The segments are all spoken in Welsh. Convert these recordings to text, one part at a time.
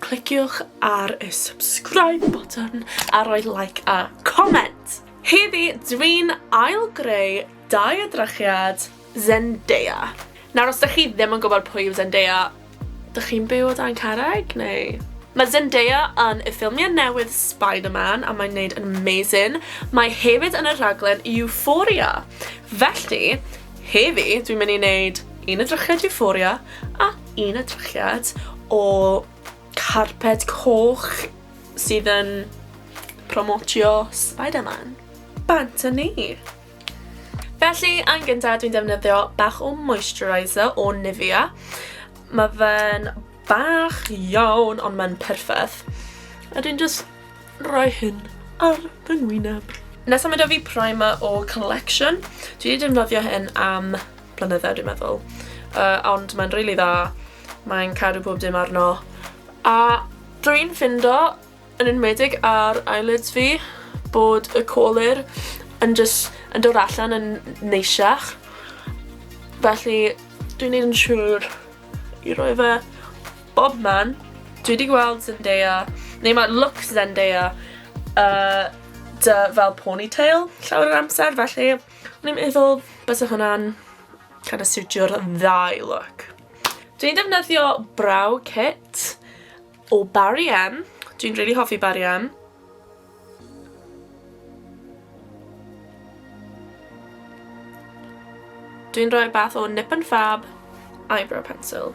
Cliciwch ar y subscribe button a rhoi like a comment! Heddi dwi'n ail greu dau o drachiad Zendaya. Nawr os dych chi ddim yn gwybod pwy yw Zendaya, dych chi'n byw o dan carreg neu? Mae Zendaya yn y ffilmiau newydd Spider-Man a mae'n neud yn amazing. Mae hefyd yn y rhaglen Euphoria. Felly, heddi dwi'n mynd i neud un o drachiad Euphoria a Un edrychiad o carped coch sydd yn promotio Spiderman. Bant â ni! Felly, yn gyntaf dwi'n defnyddio bach o moisturiser o Nivea. Mae fe'n bach iawn ond mae'n perffaith. A dwi'n just rhoi hyn ar fy ngwyneb. Nesaf mae 'da fi primer o Collection. Dwi wedi defnyddio hyn am blynydde dwi'n meddwl. Uh, ond mae'n rili really dda, mae'n cadw pob dim arno. A dwi'n ffindo, yn enwedig ar eyelids fi, bod y colir yn just yn dod allan yn neisiach. Felly, dwi'n neud yn siŵr i roi fe bob man. Dwi wedi gweld Zendaya, neu mae look Zendaya, uh, dy fel ponytail llawer yr amser, felly O'n i'n meddwl bysa hwnna'n kind of siwtio'r ddau look. Dwi'n defnyddio brow kit o Barry M. Dwi'n really hoffi Barry M. Dwi'n rhoi bath o Nip and Fab eyebrow pencil.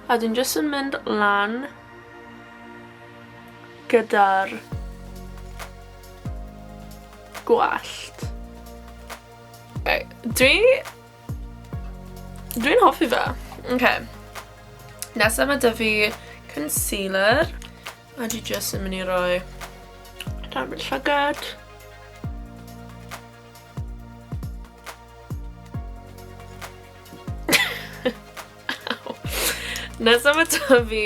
A dwi'n jyst yn mynd lan gyda'r gwallt. Okay. Dwi... Dwi'n hoffi fe. Okay. Nesaf mae dyfu concealer. A dwi jyst yn mynd i roi dan fy llygad. Nesaf mae dyfu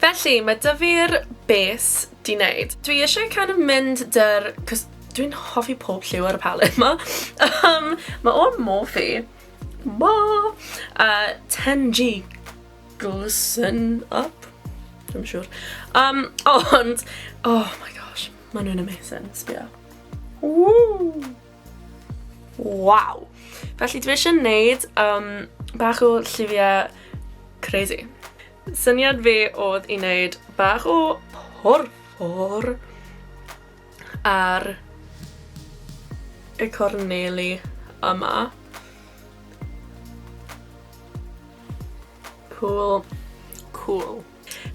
Felly, mae dyfu'r bes di wneud. Dwi eisiau kind of mynd dy'r... Cos dwi'n hoffi pob lliw ar y palette ma. um, mae o'n Morphe. Ma! Uh, 10G glisten up. Dwi'n siŵr. Um, ond, oh my gosh, maen nhw'n amazing. Sbio. Woo! Wow! Felly dwi eisiau gwneud um, bach o lliwiau crazy. Syniad fi oedd i wneud bach o porffor ar y corneli yma. Cool. Cool.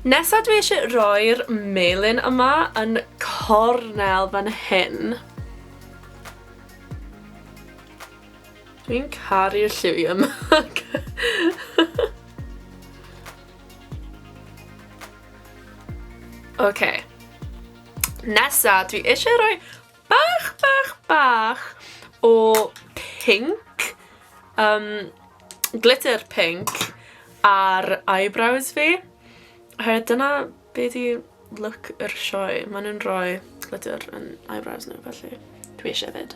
Nesa dwi eisiau rhoi'r melin yma yn cornel fan hyn. Dwi'n caru'r lliwiau yma. Oce. Nesa, dwi eisiau rhoi bach, bach, bach o pink, um, glitter pink ar eyebrows fi. Oherwydd dyna Be di look yr sioe? Ma' nhw'n rhoi glitter yn eyebrows nhw felly dwi isie 'fyd.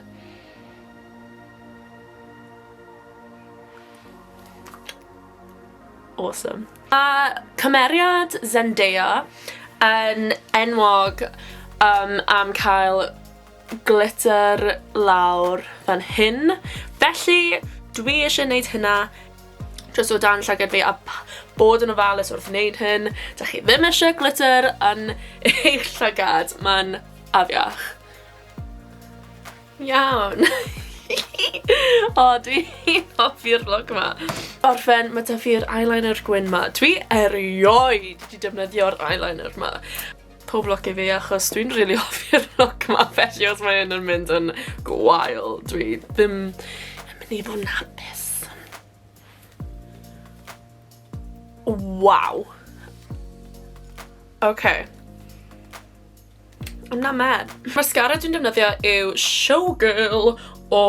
Awesome. A cymeriad Zendaya yn enwog um, am cael glitter lawr fan hyn. Felly, dwi eisiau gwneud hynna jyst o dan llygad fi a bod yn ofalus wrth wneud hyn. Da chi ddim eisiau glitter yn eich llygad, mae'n afiach. Iawn. o, dwi'n hoffi'r vlog yma. Orffen, mae da fi'r eyeliner gwyn yma. Dwi erioed wedi defnyddio'r eyeliner yma. Pob lwc i fi achos dwi'n rili hoffi'r look ma felly os mae hyn yn mynd yn gwael dwi ddim yn mynd i fod yn hapus. Waw. Oce. I'm not mad. Mascara dwi'n defnyddio yw Showgirl o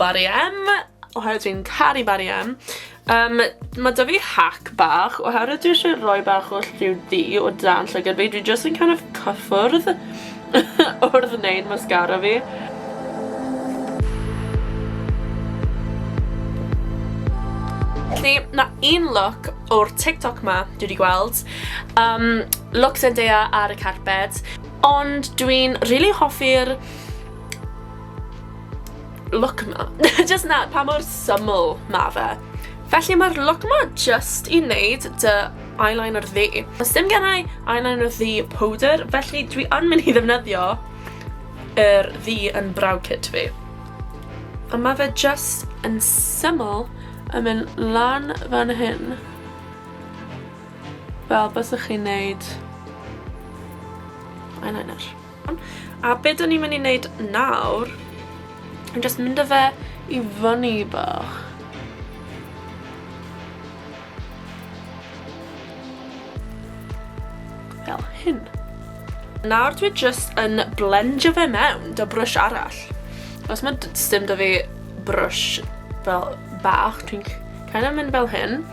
Barry M. Oherwydd dwi'n caru Barry M. Um, mae da fi hack bach, oherwydd dwi eisiau rhoi bach o lliw di o dan llygad fi, dwi just yn kind of cyffwrdd wrth wneud mascara fi. Felly, na un look o'r TikTok ma dwi wedi gweld, um, look Zendaya ar y carpet, ond dwi'n really hoffi'r Look ma. Just na, pa mor syml ma fe. Felly mae'r look ma just i wneud dy eyeliner ddi. Os dim gennau eyeliner ddi powder, felly dwi yn mynd i ddefnyddio yr ddi yn brow kit fi. A mae fe just yn syml yn mynd lan fan hyn. Fel bys ych chi'n neud eyeliner. A be dyn ni'n mynd i wneud nawr, yn just mynd â fe i fyny bach. Fel hyn. Nawr dwi just yn blendio fe mewn da brwsh arall. Os mae dim da fi brwsh fel bach, dwi'n kind of mynd fel hyn.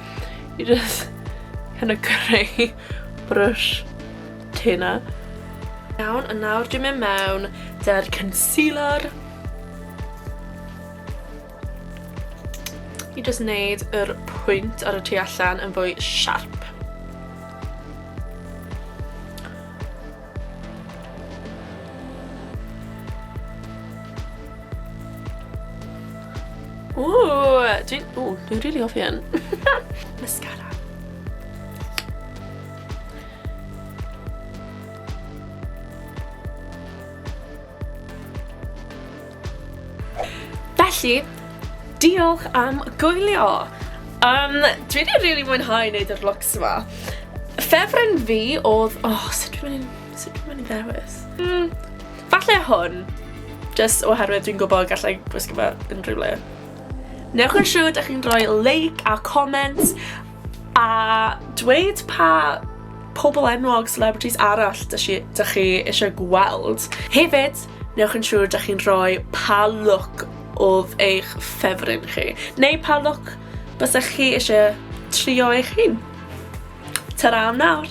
I just kind of creu brwsh Tuna. Iawn, a nawr dwi'n mynd mewn da'r concealer. I just wneud yr pwynt ar y tu allan yn fwy sharp. Ooh, dwi'n... Ooh, dwi'n rili hoffi hyn. Mascara. Felly, diolch am gwylio! Um, dwi wedi really mwynhau wneud yr looks yma. Ffefryn fi oedd... Oh, sut dwi'n mynd sut dwi'n mynd i ddewis? Mm, falle hwn. Just oherwydd dwi'n gwybod gallai gwisgo fe unrhyw le. Newch yn siŵr ydych chi'n rhoi like a comment A dweud pa pobl enwog, celebrities, arall dych chi, dych chi eisiau gweld. Hefyd, newch yn siŵr dych chi'n rhoi pa look oedd eich ffefryn chi, neu pa look bysach chi eisiau trio eich hun. Ta-ra am nawr!